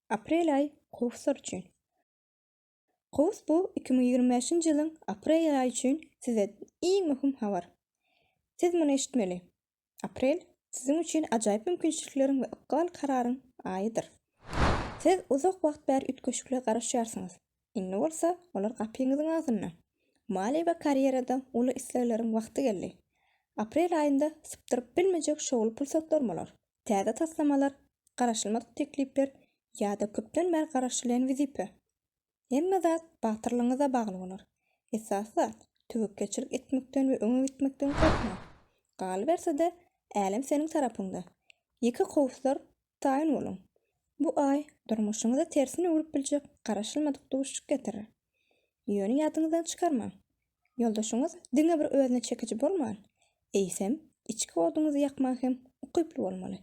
Aprel aýy kowuslar üçin. Kowus bu iki müň ýigrimi bäşinji ýylyň aprel aýy üçin size iň möhüm habar. Siz muny eşitmeli. Aprel siziň üçin ajaýyp mümkinçilikleriň we ykbal kararyň aýydyr. Siz uzak wagt bäri üýtgeşiklige garaşýarsyňyz, indi bolsa olar gapyňyzyň agzynda. Maliýe we karýerada uly islegleriň wagty geldi. Aprel aýynda sypdyryp bilmejek şowly pursatlar bolar. täze taslamalar, garaşylmadyk teklipler ýa-da köpden bäri garaşylýan wezipe. Hemme zat batyrlygyňyza bagly bolar. Esasy zat, töwekgelçilik etmekden we öňe gitmekden gorkmaň. Galyberse-de, älem seniň tarapyňda. Ýeke kowuslar taýyn boluň. Bu aý durmuşyňyzy tersine öwrüp biljek garaşylmadyk duşuşyk getirer. Ýöne ýadyňyzdan çykarmaň, Ýoldaşyňyz diňe bir özüne çekiji bolman, eýsem, içki oduňyzy ýakmaga hem ukyply bolmaly.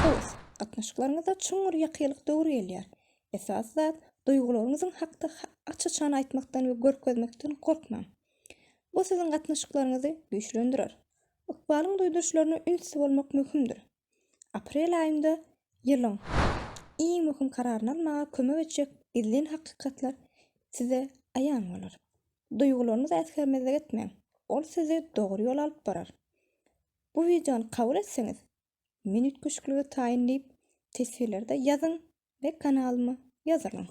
Höwes, gatnaşyklaryňyzda çuňňur ýakylyk döwri gelýär. Esasy zat, duýgularyňyzyň hakda aç-açan aýtmakdan we görkezmekden gorkmaň. Bu siziň gatnaşyklaryňyzy güýçlendirer. Ykbalyň duýduryşlaryna ünsli bolmak möhümdir. Aprel aýynda ýylyň iň möhüm kararyny almaga kömek etjek gizlin hakykatlar size aýan bolar. Duýgularyňyza äsgermezlik etmäň, ol sizi dogry ýola alyp barar. Bu wideony kabul etseňiz, men üýtgeşiklige taýyn diýip, teswirlerde ýazyň we kanalyma ýazylyň.